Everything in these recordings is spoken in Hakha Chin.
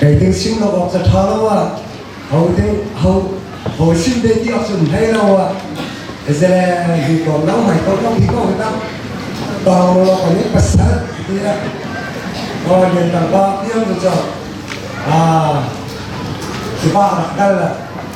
Kei ke sim lo awk ca ṭha lo ah ho te ho ho sim te ti awk cun hlei lo ah ezele hi kom lo mai kom lo hi ko ta tawng lo kan i pasal ti a ko den tang ba piang cu cho ah kiba rak kal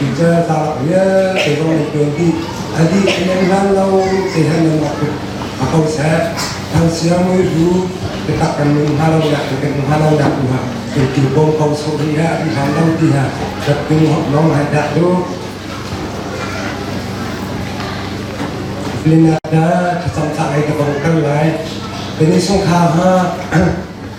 Picture ta vialte vong le tuan ti adi nan hlan lo te han nan ak a ko se thang sia mui ru te tak kan nun ha lo ya kan ha lo ya ku ha ke ki bong ko so ni ha i han lo ti ha dat tung hop nong ha da tu Filina da ta sam ta ai ta bong kan lai Tani sung kha ha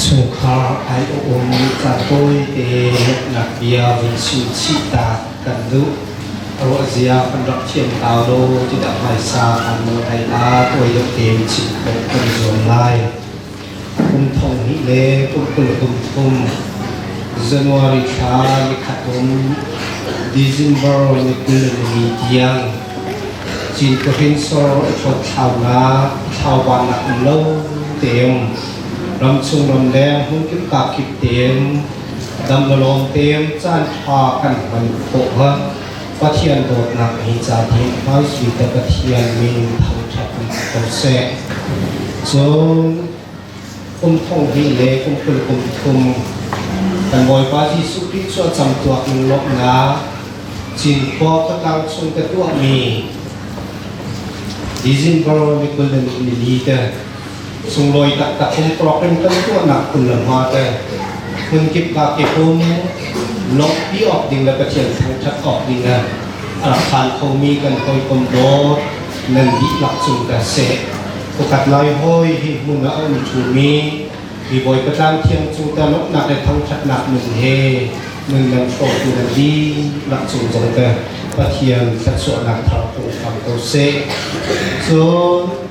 Chungkhar aiawh ummi pa tawite hneknak bia vun chim chih ta kan duh. Ruahzia kan rak thiam hau lo tikah hmaisa hmanh ei ah tuaioh tein chim khawh kan zuam lai. Kum thong hnih le kum kul kum thum January thla nikhat um December ni kul le ni tiang Cin Kahrinsor a thawt thlaunak thlaubannak um lo teum Ramchung ramleng hmunkip kakip tein damlalawng tein caanṭha kan hman khawh hnga Pathian dawtnak hi caan hi hmaisui te Pathian min thangṭhat in ko seh. Cun kum thong hi le kum kul kum thum kan Bawipa Jesuh Khrih cu a cam tuak in lawmhnak Cinkhua khuatlang chung ka tuahmi December ni kul le ni li te Sunglawi taktak in tuakin kan tuahnak phun le hma te phunkip ka ke hum lawmhpi awk ding le Pathian thangṭhat awk ding le a rak phan khomi kan hawikom dawt nan dihlak cung ka se. Pakhat lai hoi hi hmun a um ṭhumi hi Bawipa tlang thiang cung ta lawmhnak le thangṭhatnak nun he nun nan hrawtu nan dihlak cung zong te Pathian thluachuahnak thar kong hram ko seh. Cun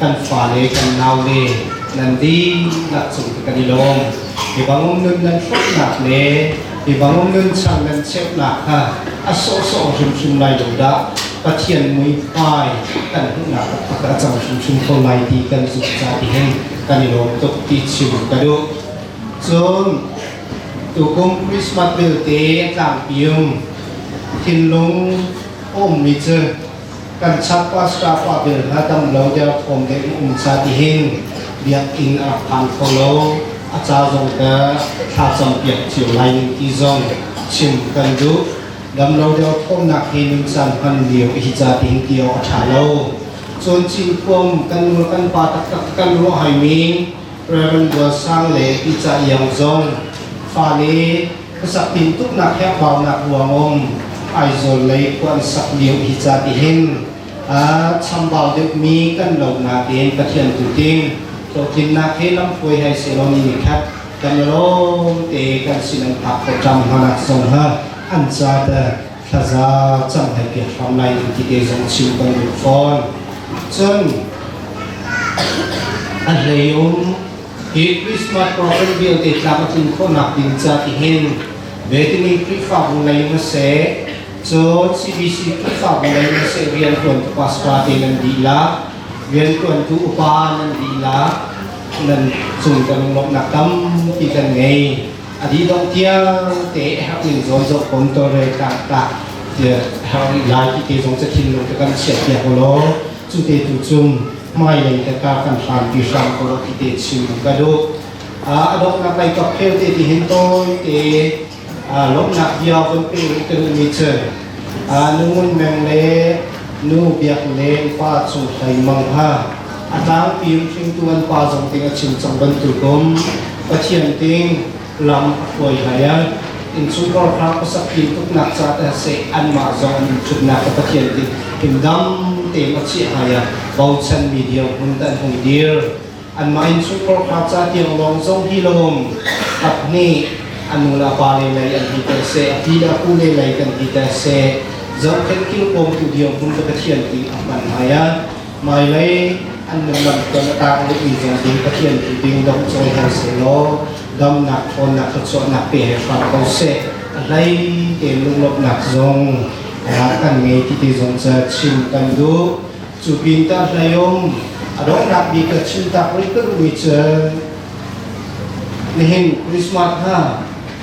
kan fale kan naule nan dihlak cung hi kan i lawm. Mibang nun nan hruknak le mibang nun chang nan cheuhnak kha a sawhsawh hrimhrim lai lo dah Pathian muihmai kan hmuhnak taktak a cang hrimhrim kho lai ti kan zumh ca ti hin kan i lawm tuk ti chim ka duh. Cun tukum Christmas vialte tlangpium thinlung ummi cu kan chak pastor pa bel hna dang lo derthawm dek na um ca ti hin biakinn a phan kho lo a ca zong ka thla cam piak cio lai ning ti zong chim kan duh dam lo derthawm nak hi nun san hman lio hi ca ti hin tio a tha lo cun chin kuam kan nu kan pa tak tak kan ruah hai mi Reverend Buansang le Ica Iang zong fale khuasak tintuknak he khuarnak ruangum Aizawl lei khua an sak lio hi ca tihin ah chambau deuhmi kan lonak in Pathian tu ting hlawhtlinnak hi lamhruai hai selaw ni ni khat kan lawm te kan sin an phak ko ṭam hna nak zong ha an ca te thlaza cang hei pek hram lai in ti te zong chim kan duh fawn cun a hlei um hi Christmas program vialte tlak a tlin khawhnak ding ca ti hin vetimi Khrihfabu lei na se cu CBC Khrihfabu lei na se riantuan tu pastor te nan dila riantuan tu upa nan dila nan cung kan lomnak tampi kan ngei a dih dong tiangte herh ning zawn zong kon tore ta ta herh nih lai ti te zong cakhin lung ka kan chiat piak lo cu te tu chung mai leng te ka kan hram ti hram ko lo ti te chim lung ka du a dong na kai ka phel te ti hin toy te lomnak bia von pe kan mi cheu nu Ngun Meng le nu Biak Leng pa Cung Hlei Mang hna a tlangpi hringtu an pa zong ting a chim cang bantukum Pathian ting lam a hruai hlai a innchungkhar kha khuasak pin tuknak ca te se anmah zong an innchutnak a Pathian ting in dam tein a chiah hai a bochan mi dirhmun tan hung dir an main chungkhar kha ca tiang lawng zong hi lawm tak nih an nu le pa le lei an hi te se a pi le pu le lei kan hi te se zohkhet kil pom tu diam hum ka pathian ti a hman hai a mai lei an nan lam ton ta le i zan ding pathian ti ding dam choi ho se lo dam nak thon nak ka chwa nak pe he fa ko se lai te lung lop nak zong kan ngei ti ti zong cha chin kan du Cu pinta hlayom a donghnak mi ka chim tak rih ka duhmi cu nihin Christmas ha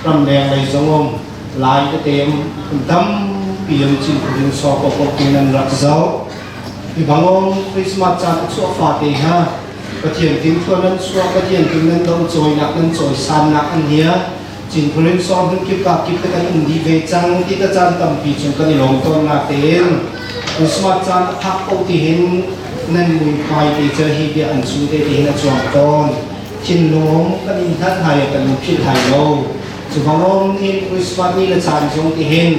ramleng lei zongom lai te tem an tam piam cin kurin so ko ko tin an rak zau i bangom Christmas caan a chuah fa te ha Pathian tin thuan nan suak Pathian tin nan do choi nak nan choi san nak an hia Cinkhulin sawm hun kip kap kip te kan um dih ve cang ti ta caan tampi cu kan i lawm tawn na tein Christmas caan a phak ko ti hin nan muihmai te cu hi bia an su te ti hin a cuang tawn thinlung kan in hlat hai kan in philh hai lo cu bangom ni Christmas ni le caan zong ti hin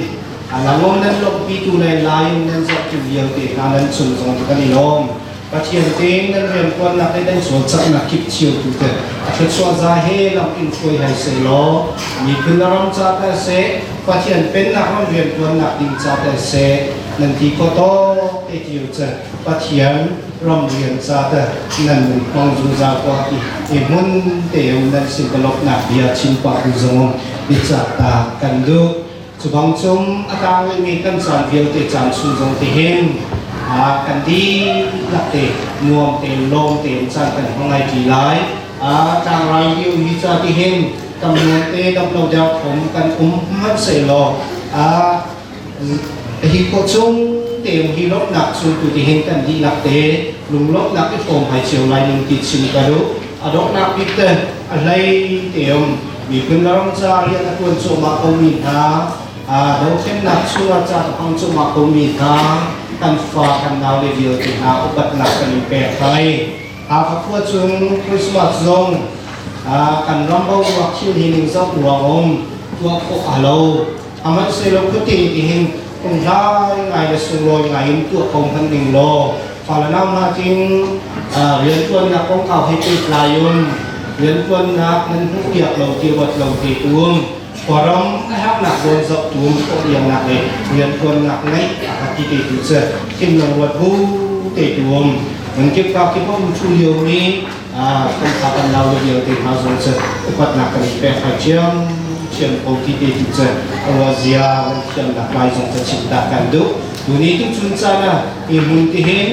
alangom nan lawmpi tu le lai nan zok tu vialte hna nan chung zong ti kan i lawm Pathian te nan rianṭuannak le nan cawlcanghnak kip thiantu te a thluachuah za he lam in hruai hei seh law miphun le ram ca tal seh Pathian pennak ram rianṭuannak ding ca tal seh nan ti kho tawk te ti cu Pathian ram rian ca tal nan nun hmang zungzal kwa ti i mun te nan sin palopnak bia chim pa tu zong bicak ta kan duh Cubang cung a tang ngaimi kan caan vialte caan chung zong te hin ah kan dihlak te nuam te lawm te in caan kan hmang ngai ṭi lai ah tlangrai liu hi ca ti hin tam nuam te dam lo deuh khom kan um hmanh se law ah hi ko chung te hi lawmnak chung tu ti hin kan dihlak te lunglawmnak i fawm hai cio lai nun ti sim ka lu a donghnak bik te a hlei te um Miphun le ram caah rian a ṭuan cuahmah komi hna, aa dothlennak chung ah caan a hmang cuahmah komi hna, kan fa, kan naule vialte hna upatnak kan in pek hoi. Hakha khua chung Christmas zong kan ram boruak thil hi ningzak ruang um tuah khawh a lo. Amanh selo khuting tihin phunghrai ngai le sunglawi ngai in tuah ko hman ding law Falenaunak in rianṭuannak kongkau he pehtlai in rianṭuannak nan hmuhpiak lo ti ruat lo te tum khuaram na herhnak zawn zoh tum khawhpiaknak le rianṭuannak ngeih a ka ti te tu cu thin lang ruat bu te tum nan kip kak ti pom thu lio mi kan kha kan lau le vialte hna zong cu upatnak kan i pek hai thiam ko ti te tu cu ruah zia kan thiamnak lai zong ka chimta kan duh tuni tu chun caan ah i mun ti hin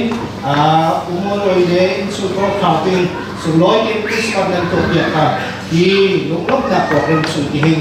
umoloi le insungko khawtin sunglawi tin krismas nan to piak ka i lunglomnak ko ren chun ti hin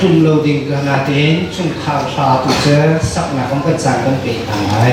tlung lo ding ka la tein chungkhar hra tu cu saknak in kan caan kan pe hna lai.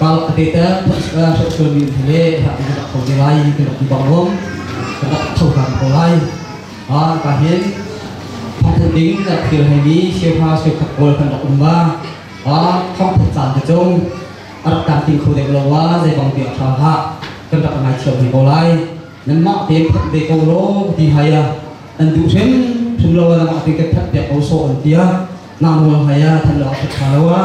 Ral a teter hruaitu min he le rak in rak tho te lai kan rak ti bang lawm kan rak tho hram ko lai a ka hin thongthat ding rak thil hei mi siafa siakhat pawl kan rak um va a thongthat caan te cung a rak tam ting kho dek lo wa zei bang tiang tha hlah kan rak ngai thiam ve ko lai nan mah te phanh ve ko ro ti hai a an duh hrim hrim lo na mah te ka that te ko so an tia na mo hai a than lo a that tha lo a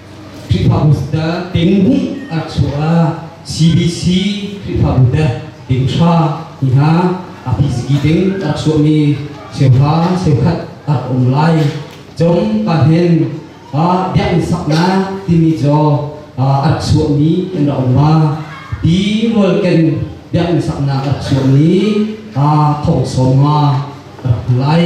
Khrihfabu Ding a chuah CBC Khrihfabu Ding hra hi hna a piziki ding a chuahmi cheuha cheukhat a rak um lai. Cung ka hen ah biakinn saknak timi cu a chuahmi an rak um ma ti rualken biakinn saknak a chuahmi thong sawm ma a rak lai.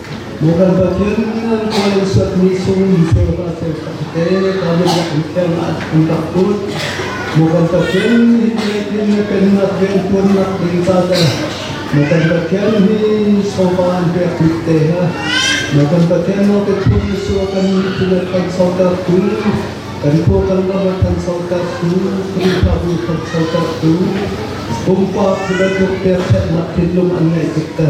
Maw kan Pathian, nan khawlh in suatmi sungin cheu ka cheu ka te, ka biak an khen an tak kun. Maw kan Pathian, hitin hin na pennak riantuannak ding ta te, maw kan Pathian hi sofa an pek bik te ha, maw kan Pathian no te thun sua kan mithin a than sautar kun, kan phu kan lama than sautar kun, Khrihfa bu than sautar kun, pumpak sebetuk ter thetnak thinlung an ngaih tik te.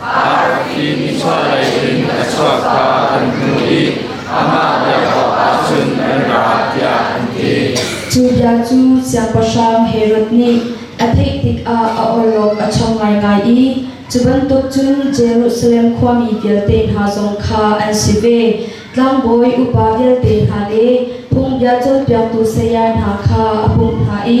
Mah i mithmuh lei in a chuak kha an hmu i amah biak awkah cun an ra tiah an ti. Cu bia cu siangpahrang Herod nih a theih tikah a awlawk a chong ngaingai i cu bantuk cun Jerusalem khuami vialte hna zong kha an si ve, tlangbawi upa vialte hna le phungbia cawnpiaktu saya hna kha a pumh hna i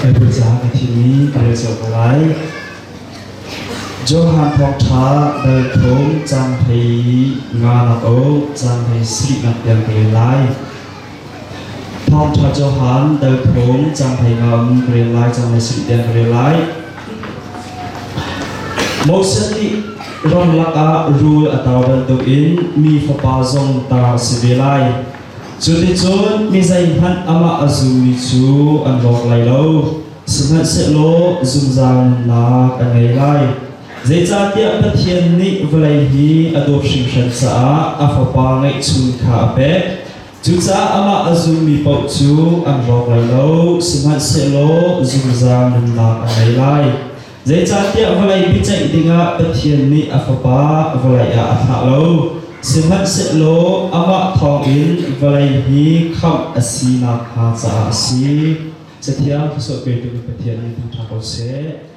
Kan cang a thimi ka rel cio ko lai. Johan thawk ṭha dal thawm cang hei nga nak o cang hei sri nak tel ka rel lai. Thawngṭha cohan Delphawm canghlei ka um ka rel lai cang lai sih den ka rel lai. Moses nih ram lakah rul a tar bantukin mi fapa zong tar a si ve lai. Cuticun mi zeihmanh amah a zummi cu an lawk lai lo, sihmanhsehlaw zungzal nunnak an ngei lai. Zeicahtiah Pathian nih vawlei hi a dawt hringhran caah a Fapa ngeihchun kha a pek. Cucaah amah a zummi paoh cu an rawk lai lo, sihmanhsehlaw zungzal nunnak a ngei lai. Zeicahtiah vawlei biaceih dingah Pathian nih a Fapa vawlei ah a thlah lo, sihmanhsehlaw amah thawngin vawlei hi khamh a si nakhnga caah a si. Cathiang, Thluachuah petu Pathian nih tang ṭha ko seh.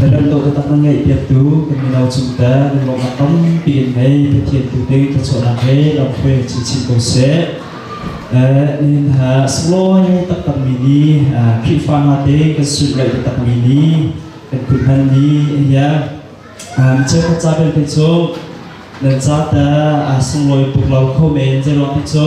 Na kan dawtnak na ngeih piaktu kan mino cungte lungrawhnak tampi in ngei Pathian tu te thluachuahnak he lamhruai chinchin ko seh. Nihin ha sunglawi taktak mi ni Khrihfa nga te kan suit rei taktak mi ni kan putman ni hiya mi cheu ca belte cu nan ca ta sunglawi puk lau kho men zelong te cu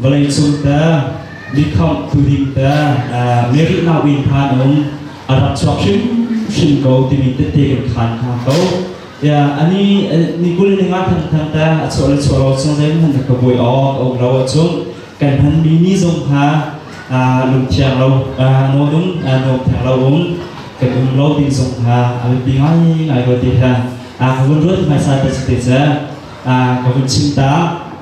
vawleicung te mikhawmh thuding te miri nauin phan um a rak chuak hrimhrim ko timi tete kan khan hna ko ya ani ni kul ning ah thang thang ta a chuah le chuah lo chung zai man ka boi o ka um lo a chung kan han mi ni zong ha lung thiang lo no dum no thiang lo um kan um lo ding zong ha a bi ngai ngai ko ti ha a ka vun ruat mai sa ta te cha a ka vun chim ta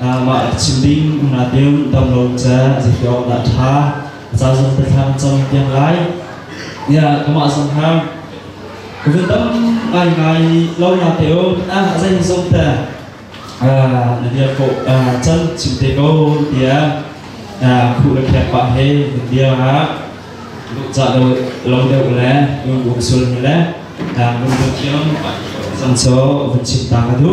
Mah a chim ding na deu damlo ce zepi awk dah ṭha a zazung tethlang cam tiang lai. Ya kamah zong ham covid dam ngai ngai lo na te o ah zai zong te na bia ko can chim te ko tia khu la khek pa he mun bia nga lu cha lo lo deu le un sul le mun bu tiam san so vun chim ta ka du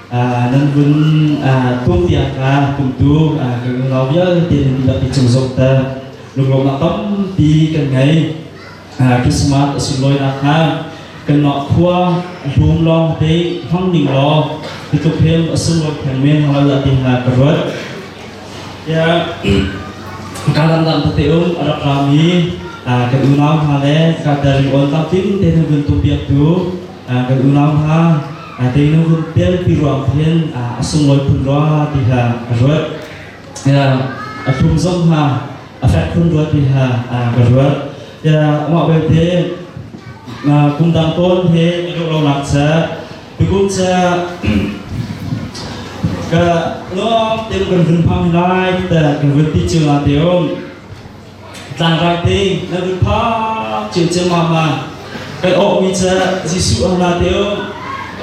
nan kun kum tiang ka kumtu kan unau vialte nan dihlak i cung zokter lunglawm ah tampi kan ngei Christmas a si lawi nak hnga kan nok khua bum lawng te hmang ning law titluk hem a sunglawi theng men hal la ti hna ka ruat ya ka lam lam te um arab rami kan unau hna le ka dari on tam tin te nu gun tu piak tu kan unau hna aa teinu rum pialpi ruang khin a sunglawi phun rua ti hla a ruat a thlum zong ha a fek phun rua ti hla ka ruat amah belte kumdang tawn he ka ruh lonak cha tukum cha ka lawm tem kan vun hmang lai ta kan vun ti chunga te om Tlangrai te na lut phak cio ciammam ma kan awhmi cu Jesuh an ra te o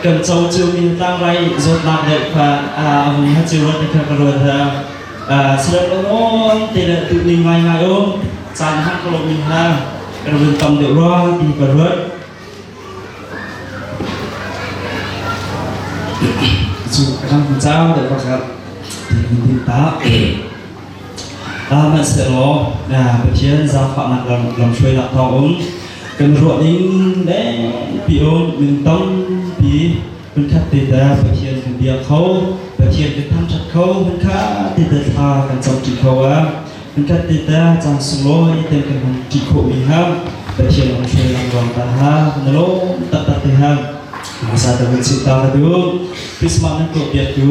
kan co cio min tlangrai zawtnak deuh kha a vui ha cio rat kha ka rual ha sirat ongol te le tu ning ngai ngai o caan hang ka lo min ha kan vun tam deuh rwa ti ka ruat cu kan cau deuh bak ti min ta Hmanhsehlaw Pathian zaangfahnak lamhruainak thawngin kan ruah ning lengpi um min tampi hun khat te ta Pathian hun bia kho Pathian kan thangthat kho hun kha te ta thla kan cam ṭi kho a hun khat te ta caan sunglawi ten kan hun ṭi khawh mi ha Pathian hun hruai lang ruang ta ha na lawm tak tak te ha masa ta hun sin ta ka du Christmas nan tuah biak tu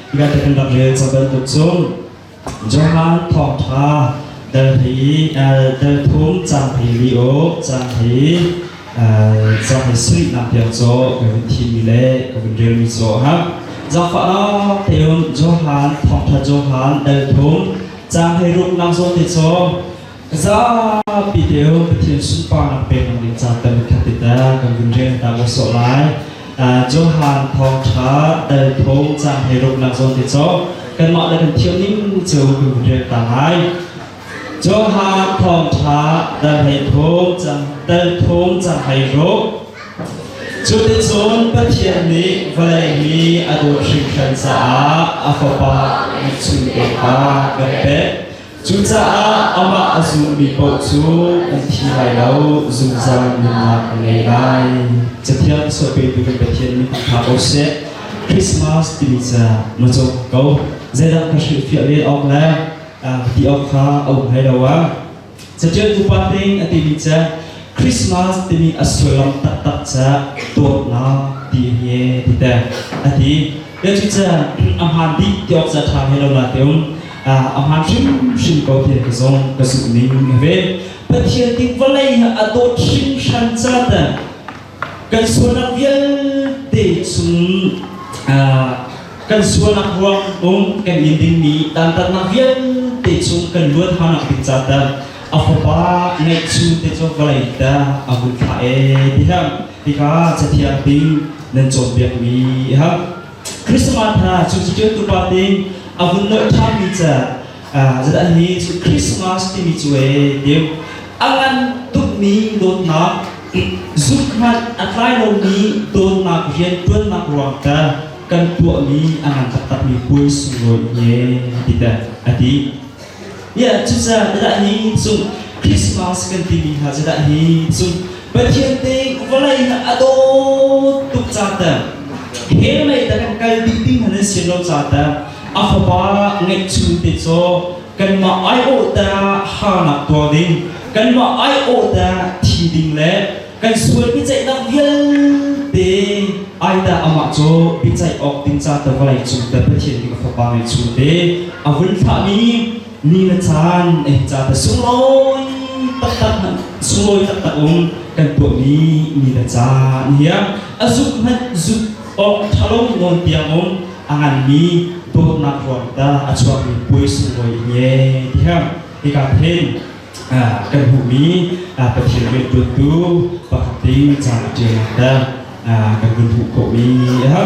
Biakinn le ca bantuk cun Johan thawngtha dal hi dal thum cang hi lio cang hi cang hi sui nam tiang cho ka vin thi mi le ka vin rel mi cho ha zakfa lo teun Johan thawngtha Johan dal thum cang hi ruk nam zo te cho Zapi deu Pathian sunparnak peknak ding caan tam khat te ta kan vun rian ta ko so lai. Johan thawng tha dal tho caan hei ruk nak zawn te cho kan mah da kan thiam ning cu kan vun rian ta lai. Johan thawng tha dal hei thom cang dal thom cang hei ruk Cuticun Pathian nih vawlei mi a dawt hrimhran caah a fapa nih chun pek kha kan pek. Cucaah amah a zummi paoh cu an thi lai lo, zungzal nunnak a ngei lai. Cathiang sualpetu kan Pathian min hna ko seh. Christmas timi cu na cawk ko. Zeidah ka hrilhfiah len awk le ti awk kha a um hlei lo ang. Catialtu pa ning a timi cu Christmas timi a sullam taktak cu dawtnak ti hi ti te. A ti. Cucu a hmaan dih ti awk zat ṭha he lo la teum a hmaan hrimhrim ko ti ka zong ka zumh ning a ve. Pathian ti vawlei ha a dawt hringhran ca ta kan sualnak vialte chung kan sualnak ruang um kan in dingmi dantatnak vialte chung kan luat hanak ding ca ta a fapa ngeih chu te cu vawlei ta a hun thla e ti hang Hika cathiang ding nan cawnpiakmi a hau. Christmas hna cu cutiantu pa nih a vun loh ṭhanmi ca zadal hi cu Christmas timi cu e deu a ngan tukmi dawtnak zuk hmanh a tlai lomi dawtnak rianṭuannak ruang ta kan tuahmi a ngan taktakmi puai sunglawi ne a ti te a ti. Cucaah zedah hi cung Christmas kan timi hna zedah hi cung Pathian te vawlei na a dawt tuk ca ta hell mei ta kan kal dih ding han si lo ca ta a fapa ngeih chung te cho kanmah ai awh ta ha nak tuar ding kanmah ai awh ta thi ding le Kan sual biaceihnak vialte ai dah amah cu biaceih awk ding ca te vawlei cung te Pathian nih a fapa ngeihchun te a vun thlahmi ni le caan ei ca te sunglawi taktak sunglawi taktak um kan tuahmi ni le caan hi a zuk hmanh zuk awk thalo nawn tiang um a nganmi dawtnak ruang ta a chuakmi puai sunglawi he tiang hika hin kan hmuhmi Pathian rianṭuantu pakhat in caan a ṭialnak kha kan kan hmuh khawhmi a ha.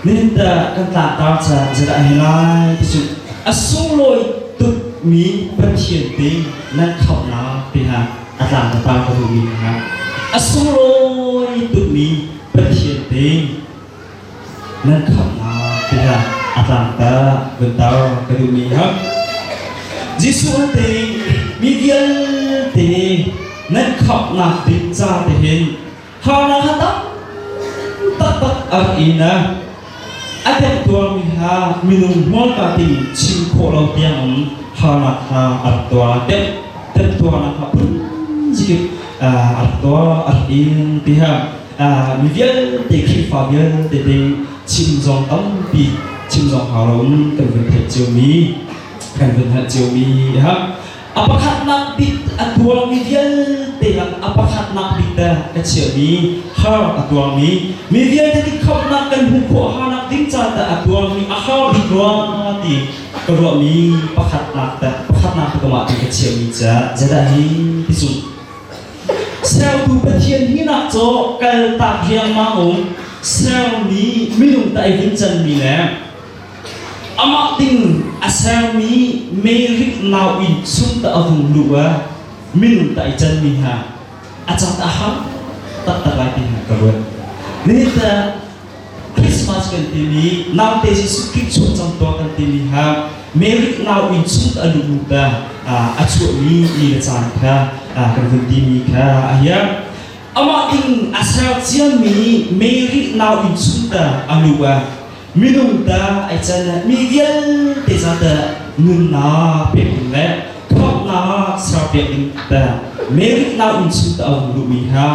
Nihin kan tlahtar caan zeidah a hi lai ti cu a sunglawi tukmi Pathian te nan khamhnak te hna a tlang tatar ka duhmi hna a sunglawi tukmi Pathian te Nan thawngnak tiah a tlangter vunter ka duhmi hak. Jesuh an te mi vialte nan khawknak ding ca te hin hana ha tam taktak a rak in a a temtuarmi hla minung hmualka ding chim khawh lo tiangin harnak hla a rak tuar tem temtuarnak hla phun zikip a rak tuar a rak in tiha mi vialte Khrihfa vialte te chim zong tampi chim zong hau loin kan vun theih ciomi kan vun hngalh ciomi ha a pakhatnak bik a tuangmi vialte lak a pakhatnak bik dah ka chiahmi har a tuangmi mi vialte ti khamnak kan hmuh khawh harnak ding ca dah a tuangmi a har bik rua ti ka ruahmi pakhatnak dah pakhatnak ka kamah ti ka chiahmi ca zadah hi ti sung Sertu Pathian hinak cu kaltak riangmang um sermi minung ta i hun canmi le amah ding a sermi merik nau in sung ta a hung luh a minung ta i canmi hna a cat a har taktak lai ti hna ka ruat. Nihin ta Christmas kan timi naute Jesuh Khrih chung cang tuah kan timi ha Merit nau in chung a lu ta a chuahmi ni le caan kha kan vun timi kha a hiam amah in a ser ciami Merit nau in chung ta a lu a minung ta ai can mi vialte za ta nunnak pek ding le thuamnak ser pek ding ta Merit nau in chung ta a hung luhmi ha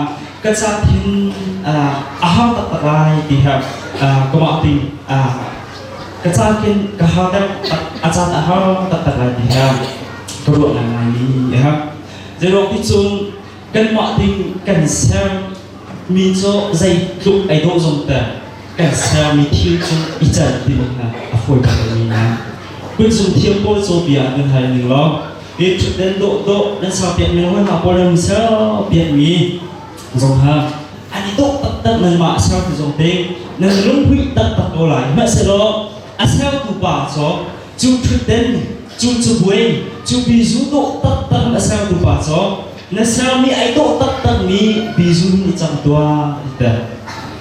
Ka cak hin a har taktak lai ti her kumah ding ka caan khin ka har deuh a caan a har taktak lai ti her ka ruah ngai mi a her zeirok ti cun kanmah ding kan ser mi cu zei tluk ei dawh zong te kan ser mi thil cu i can ding a fawi tuk mi na kun zung thiam pawl cu bia kan hal ning law Pe thutden dawhdawh nan sau pek men hna pawl nan sau pek mi zong ha an i dawh taktak nan mah ser ti zong te nan lunghui taktak ko lai hmaselaw a sertu pa cawk cu thutden cu cu buai cu bizu dawh taktak na sertu pa cawk na ser mi ai dawh taktak mi bizu hin i cang tua ti ta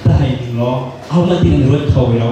ta hai ning law au na ding ruat tho ro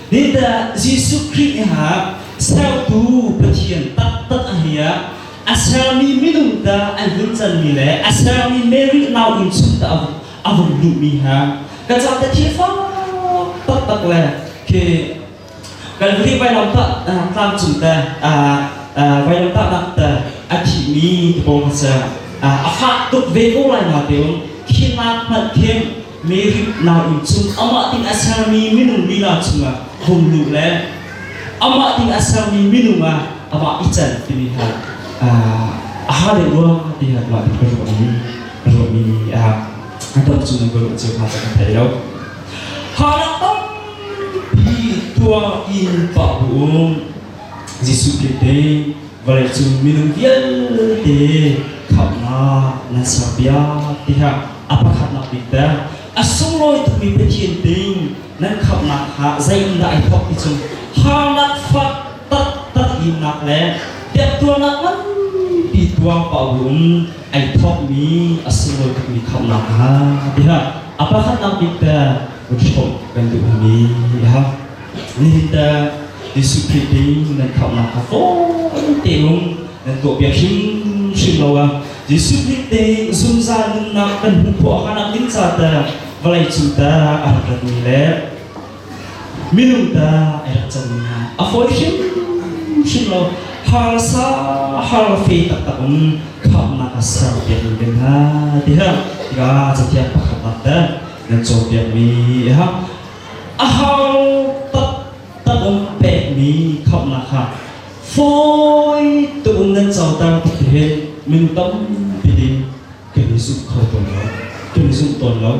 Peter Jesuh Khrih ha sertu Pathian taktak a hi ah a sermi minung ta an hin canmi le a sermi Mary nauinn chung ta a vung luhmi ha ka ca te thi fak taktak le khi Kalvari vailam ta tlang cung te vailam ta nak te a thimi ti bawm hasa a fah tuk ve ko lai na teun khinak hmat khem Mary nain chung amah ding a sermi minung lila chungah hung luh le amah ding a sermi minung ah amah i can timi hna a ha le nuam ti hna mah ti ruahmi ruahmi a dam chung in ruah cio hna cu kan thei lo hanak tampi tuah in pah bu um Jesuh Krih te Vawleicung minung vialte khamhnak nan ser piak tiah a pakhatnak bik te a sunglawi tukmi Pathian ding nan khamhnak kha zei in dah ai thawk ti cung harnak fak taktak innak le biaktuarnak nganpi tuang pa um ai thawkmi a sunglawi tukmi khamhnak hna tiah a pakhatnak bik te run hrawm kan duh mi tiah mi teh discipline in nan khamnak kha fawn tein nan tuahpiak hrimhrim lo a discipline te zungzal nunnak kan hmu phuah hanak ding ca te vawlei cu ta a rak rat mi le minung ta a rak cang mi hna a fawi hrimhrim lo harsa har fe taktak um khamnak a ser piak mi men hna ti ha tikah cathiang pakhat nak te nan cawn piak mi ha Aho taktak in pekmi khamhnak kha fawi tein nan coter tuk ti hin min tampi din kan i zumh kho tawn lo. Kan i zumh tawn lo.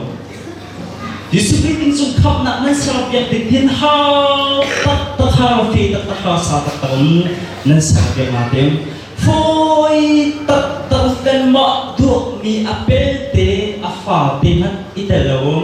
Jesuh Khrih innsung khamhnak nan serap biak ding hin hau taktak hau fe taktak hau sa taktak in nan serap biak nga tiang fawi taktak in mah duakmi a pelte a fate hmanh i tel lo um.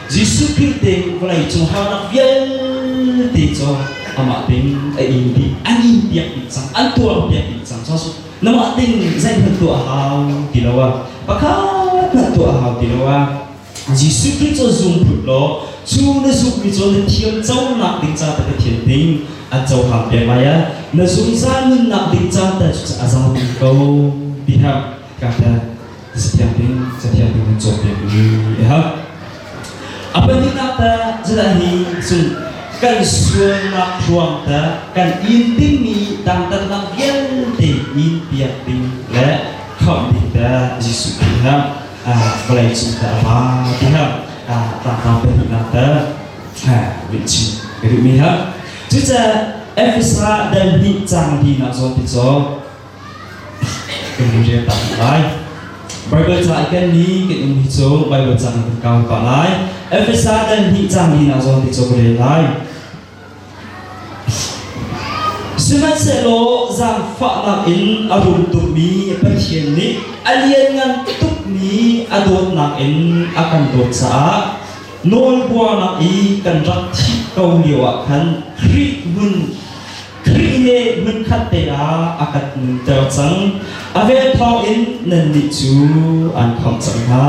Jesuh Khrih te vawlei cungharnak vialte cu amah tein a in dih, an in piak dih cang, an tuar piak dih cang. So, namah ting zeihmanh tuah hau ti lo ah, pakhat hmanh tuah hau ti lo ah, Jesuh Khrih cu zum phut law, cu na zummi cu na thiam conak ding ca te ka thiam ding an cohang te lai ah, na zungzal nunnak ding ca te cu a zam ko ti hlah. Kahlat Sianginn Cathiang in cawnpiak mi a ha. A pahnihnak ta zala hi cun kan sualnak hruang ta kan in dingmi dangdang lang vialte in piak ding le kham ding ta Jesuh ti ha vawlei cung ta va ti ha tangtang pahnihnak ta min chin ka duh mi ha cuca Efesa dal hnih cang li nak zawn ti caw kan in rian ta kan lai. Bible ca i kenmi kan um hi cu Bible cang kan kau pa lai. Efesa dan hi cang li na zawn ti cu ka rel lai. Sihmanhsehlaw zaangfahnak in a rum tukmi Pathian nih a lianngan tukmi a dawtnak in a kan dawt caah nawlbuarnak i kan rak thih ko lio ah khan Khrih hmun Khrih he hmunkhat te ah a kan nunter cang. A vel thawng in nannih cu an kham cang hna.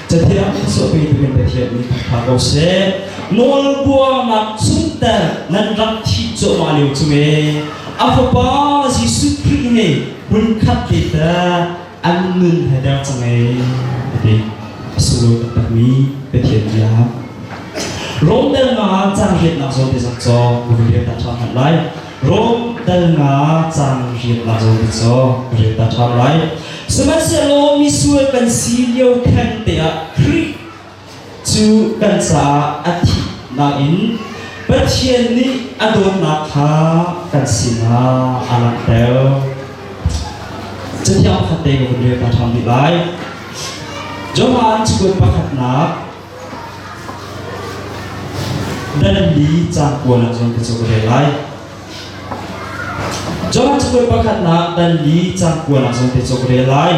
Cathiang thluachuah pe ding in Pathian nih khat hna ko seh. Nawlbuarnak chungter nan rak thih cuahmah lio cung e, a Fapa Jesuh Khrih nih hmunkhat te tah an nun he der cu ngei a ti a sunglawi taktakmi Pathian bia. Rom dal nga cang riatnak zawn te zak caw ril ta ṭha hman lai. Rom dal nga cang riatnak zawn te caw ril ta ṭha lai. Sihmanhsehlaw misual kan si lio theng te ah Khrih cu kan caah a thih nakin Pathian nih a dawtnak kha kan sinah a langhter. Cathiang pakhat te ka vun rel ta ṭhan rih lai. Johan chukut pakhatnak danli caan puan ah cun ka cu ka rel lai. Johan chukut pakhatnak danli caan puan ah cun te cu ka rel lai.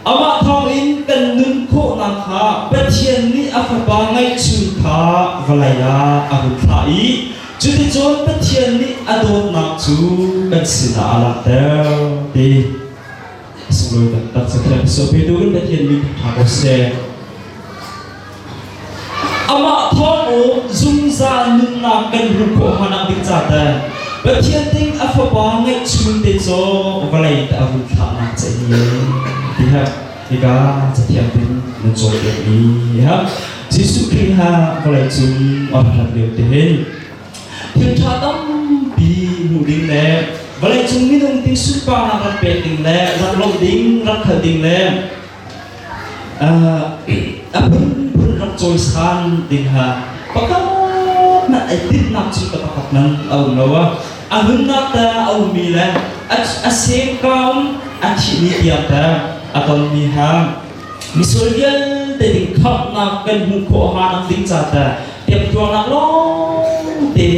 Amah thawngin kan nun khawhnak kha Pathian nih a Fapa ngeihchun kha vawlei ah a hun thlah i cuticun Pathian nih a dawtnak cu kan sinah a langhter ti sunglawi taktak cu Pathian mi ṭha ko seh. Amah thawng u zungzal nunnak kan hmuh khawh hanang ding ca te Pathian ding a fapa ngeihchun te zawng vawlei te a vun thlahnak che hi ti hem hika cathiang tin na cawn ve mi ham Jesuh Khrih ha vawlei cung a hrat lio te hin thil tha tampi hmuh ding le vawlei cung minung ti sunparnak rak pek ding le rak lawmh ding rak khal ding le a phunphun rak cawisan ding ha pakhat nan ei timnak cu ka pakhat nan a um lo a a nunnak te a ummi le a sengkaum a thih ni tiang te a tonmi ha misual vialte ding khamhnak kan hmuh khawh hanak ding ca te tiang tuarnak lawng te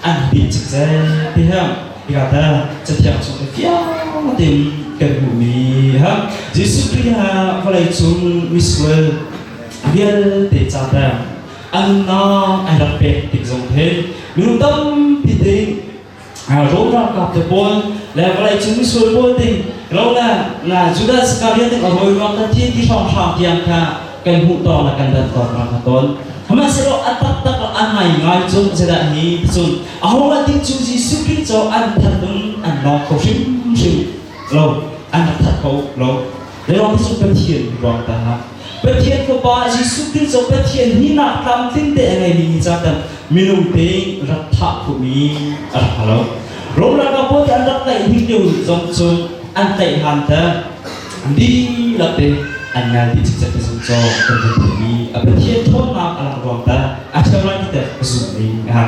an bil cik zai ti ha Bia dah cathiang chung i fiangte in kan hmuhmi ha Jesuh Khrih ah vawleicung misual vialte ca tang a nunnak an rak pek tik zong he minung tampi te ro ralkap te pawl le vawleicung misual pawl te ro le Judas Iskariot a rawi ruak kan thi ti hrawng hram tiang kha kan hmuh tawng le kan dan tawng hna kha tawn. Sihmanhsehlaw a taktak le an ngaingai cun zeidah ni cun ahohmanh ti cu Jesuh Khrih cu an that ding an lawng kho hrimhrim lo an rak that kho lo Lewang cu Pathian ruang ta ha Pathian fapa Jesuh Khrih cu Pathian hi nak tlamtling te a ngeimi ni ca tan minung te rak thah khumi a rak lo Rom ralkap pawl an rak tlaih hnik lio zong cu an tlaih han te dihlak in an ngal dih cikcek ka zum caw kan vun theih mi a pathian ṭhawnnak a langh ruang tah a ṭheo lai ti teh ka zum ning a ha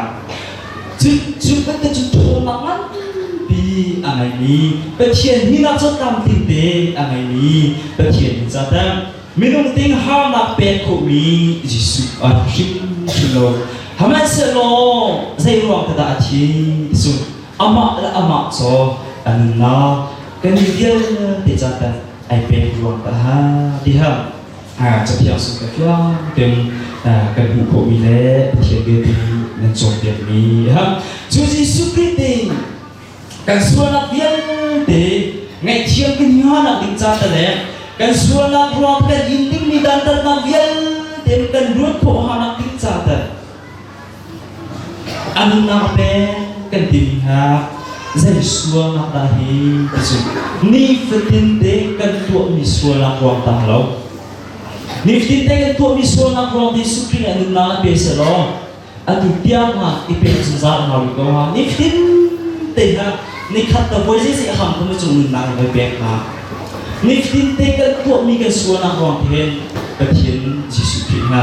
cu cu kan te cu ṭhawnnak nganpi a ngei mi pathian hi nak cu tlamtling te a ngei mi pathian in ca tang minung ting harnak pek khawh mi Jesuh a hrim hrim lo Hmanhsehlaw zei ruang dah a thi ti cu amah le amah caw a nunnak kan i vialte ca tanh ai pek ruang ta ha ti ha cathiang sung ka tlang tem kan hmuh khawhmi le pathian vialte nih nan cawnpiakmi cu Jesuh Krih ding kan sualnak vialte ngaihthiam kan nganak ding ca ta le kan sualnak ruang kan in dingmi dantatnak vialte kan ruat khawh hanak ding ca ta A nunau te kan timi kha zei sualnak dah hi ti cu nifatin te kan tuahmi sualnak ruang tang lo. Nifatin te kan tuahmi sualnak ruang Jesuh Khrih nih a nunau a pe selaw atu tiangah i pe zungzal hna rih ko ha. Nifatin te ha nikhat ta voi zeizi a ham kho na cung nunnak in kan pek hna. Nifatin te kan tuahmi kan sualnak ruang te hin Pathian Jesuh Khrih ha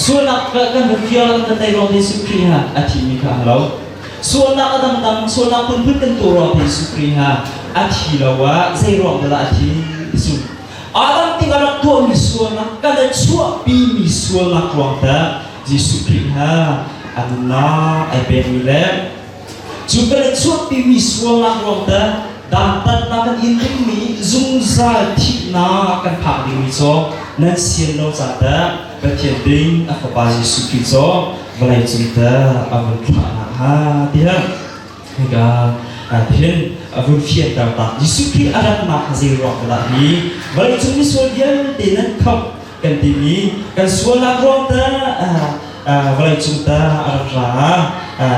Sualnak kan vun fial kan tei ruang Jesuh Khrih ha a thimi kha a lo. Sualnak a dangdang sualnak phunphun kan tuah ruang Jesuh Khrih ha a thi lo ah zei ruang dah a thi ti sung. Adam nih a rak tuahmi sualnak kan a chuahpimi sualnak ruang tah Jesuh Khrih ha a nunnak ai pekmi le Cu ka le chuahpimi sualnak ruang teh dantatnak kan in dingmi zungzal thihnak kan phak dingmi cu nan sian lo ca teh Pathian ding a fapa Jesuh Khrih cu vawlei cung teh a vun thlahnak hnga tiah hika ahhin a vun fianter tak Jesuh Khrih a ratnak zei ruang dah hi vawleicung misual vialte nan khamh kan timi kan sualnak ruang ta vawleicung ta a rak ra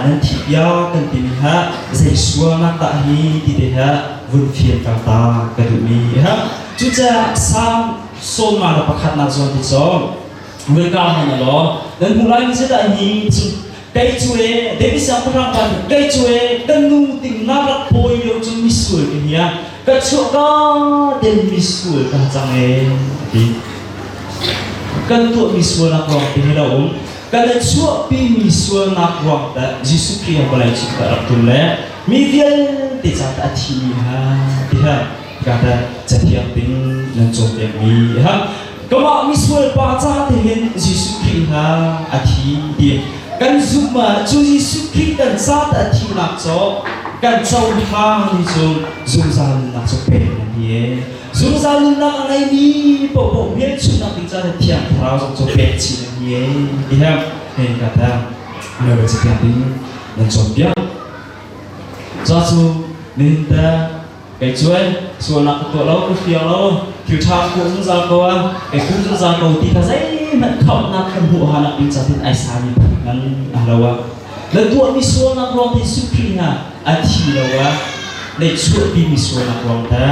nan thi piak kan timi ha zei sualnak dah hi ti te ha vun fian kang ta ka duhmi ha cucaah salm sawma le pakhatnak zawn ti cawng welcome na law nan hmu lai ni zedah hi kei cu e David siangpahrang ban kei cu e kan nu ting na rak pawi lio cu misual ka hia ka chuah ka den misual kan cang e a ti kan tuah mi sualnak ruang te lo um kan i chuahpi mi sualnak ruang te Jesuh Khrih an vawlei cung ka rak tul le mi vialte ca ta a thi mi ha ti ha ka ta cathiang ding nan cawn deng mi ha Kamah misual pa ca te hin Jesuh Khrih hna a thi ti kan zumh ah cu Jesuh Khrih kan ca te a thihnak cu kan cohlang mi cu zungzal nunnak cu pek a ni zungzal nunnak a ngeimi paohpaoh hmelchunhnak ding caan a thiang thlarau zong cu pek chin a ni ti hem hin ka tang Glory to God in nan cawnpiak ca cu nihin ta Kei cuai sualnak ka tuah lo ka fia lo thil ṭha ka hmuh zungzal ko a kei hmuh zungzal ko ti kha zeihmanh khamhnak kan hmuh hanak ding catin ai sami ngan a lo a na tuahmi sualnak ruang te sukhring ah a thi lo a na chuahpimi sualnak ruang ta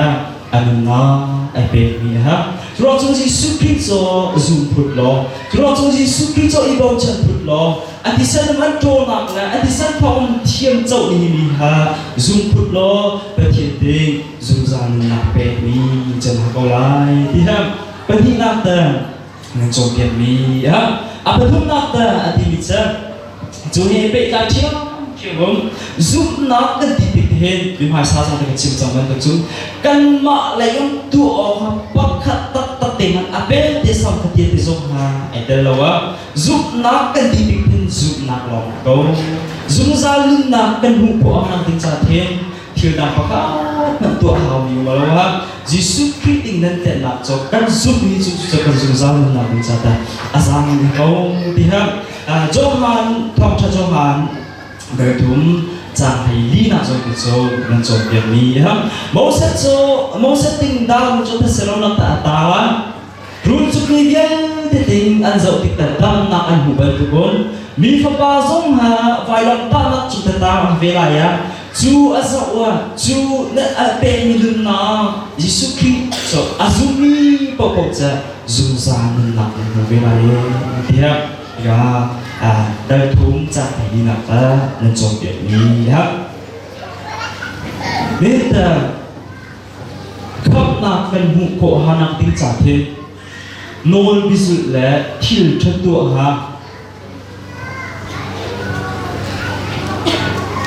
a nunnak ai pekmi a ha ruang cung Jesuh Khrist cu zum phut law ruang cung Jesuh Khrist cu i bochan phut law a thisen an ṭawlnak le a thisen thawng an thiam cohmi mi kha zungput law Pathian ding zungzal nunnak pekmi can hna ko lai ti hlam pahnihnak dan nan cawnpiakmi a pathumnak dan a timi cu cu he pehtlai ṭhiamṭhiam um zumhnak kan ti tik hin mi hmaisa zong kan chim cang bantuk cun kanmah lei um tuah awk pakhat taktak te hmanh a pelte sam fatia te zong hna ai tel lo ah Zumhnak kan tih bik phun zumhnak lawng a ko. Zungzal nunnak kan hmuh khawh a ding caan hin thil dang pakhat nan tuah haumi um lo ha Jesuh Khrih ding nan tlennak cu kan zumh mi cu cu kan zungzal nunnak ding ca ta a zang in ko ti ha Johan thawngtha Johan Garthum cang hei linak zong hi cu nan cawn piak mi ha Moses cu Moses ting dal mu cu thasilonak ta ta la Rul cukmi vialte ding an zoh tik tal damnak an hmu bal tukun mi fapa zong ha vailamtahnak cu tatang a ve lai ah cu a zoh wa cu na al pekmi nunnak Jesuh Khrih so a zummi paohpaoh ca zungzal nunnak in na ve lai tiah ga dal thum cang hi nak ka nan cawm piak mi ya. Nita Thawtnak kan hmuh khawh hanak ding ca khi nawl bizulh le thil ṭhat tuah ha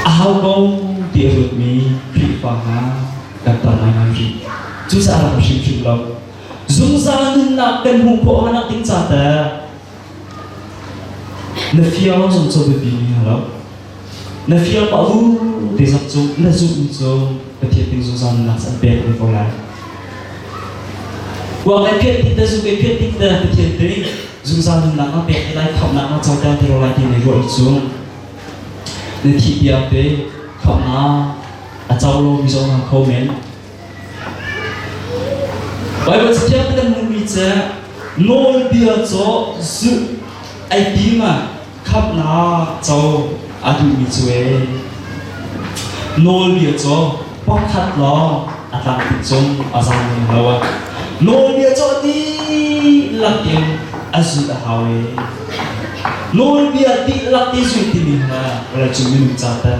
a hau ko ti a luatmi Khrihfa hna kan tam ngaingai hrim. Cucaah a lang hrimhrim lo. Zungzal nunnak kan hmuh khawh hanak ding ca te na fiang zong cu biapi mi hna lo. Na fiang ma u ti zong cu na zumh cu Pathian ding zungzal nunnak an pek ve ko lai. Kuang ai phiat ding te, zung ai phiat ding te Pathian ding zungzal nunnak a pek lai khamnak a coter te ko lai ti na ruah cu na thi piak te khamnak a co lo mi zong hna kho men Baibal caṭial kan hmuhmi cu nawlbia cu zulh ai tim ah khamhnak co a duhmi cu ee. Nawlbia cu pakhat lawng a tlang tuk cung a zam lem lo ah nawlbia cu dihlak in a zulh a hau ee. Nawlbia dihlak i zulh timi hna vawlei cung minung ca tan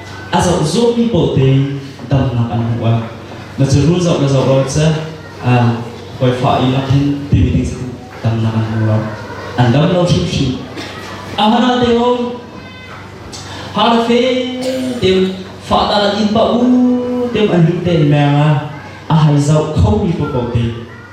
a zoh zungmi pawl te damnak an hmuh ah na cu rul zoh na zoh ro seh voifa i a khen timi ding cu damnak an hmu ro an dam lo hrimhrim a hana te hom hana fe tem fahta in pa u tem an lim ten meng a a hai zau khomi pa ko te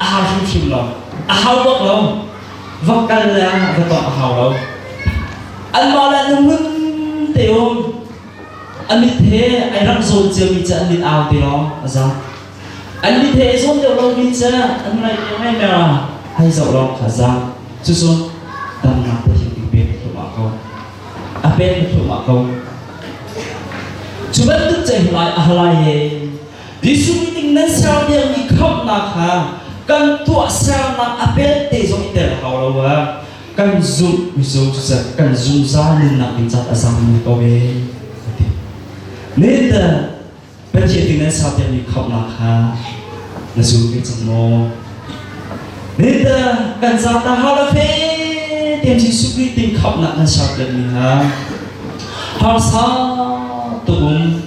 a hau hrimhrim lo a hau bak lo va kal le va tong a hau lo anmah le an ngun te um an mit he ai rang zawn ciami cu an mit au te lawng a zang an mit he ai zawn deuh lomi cu an ngai te ngai mer a hai zoh lawng kha zang cu sun damnak pathin i pek thum ah ko a pek thum ah ko cu bantuk cei lai a halai he Jesuh ning nan ser dingmi khamhnak kha kan tuah sernak a pelte zong i tel hau lo ah kan zumh Joseph kan zungzal nunnak ding caah a zaangmi ko ve a ti. Nathan Pathian ning nan ser dingmi khamhnak kha na zum ve cang maw? Nathan kan zata hala fe ten Jesuh Krist ding khamhnak nan ser dingmi kha harsa tuk um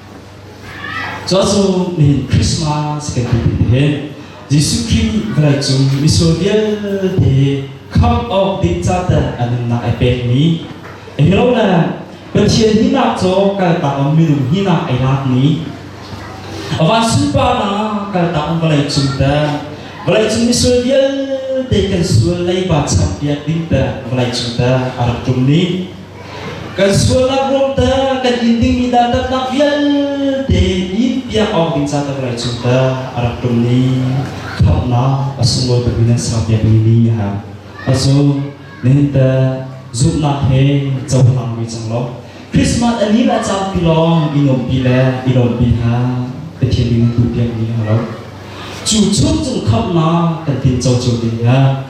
Cu cu nihin Christmas kan ti ti hin Jesuh Khrih vawleicung misual vialte khamh awk ding caten a nunnak ai pekmi a hero le Pathian hinak cu kaltak um minung hinak ai lakmi a van sunparnak kaltak um vawleicung te vawleicung misual vialte kan sual leiba champiak ding te vawleicung te a rak ṭum ni Kan sualnak ruamter kan in dingmi dantatnak vialte nin piak awk ding catan rai cung ta a rak tum ni khamnak a sunglawi bangun nan sang piak mi ni ha a zu nihin ta zumnak he cohlang mi cang lo Christmas ani la cang pi lawng i nom pi le i lom pi ha Pathian ding tu piak ni ha lo chu chung cung khamnak kan tin cho cio ding ha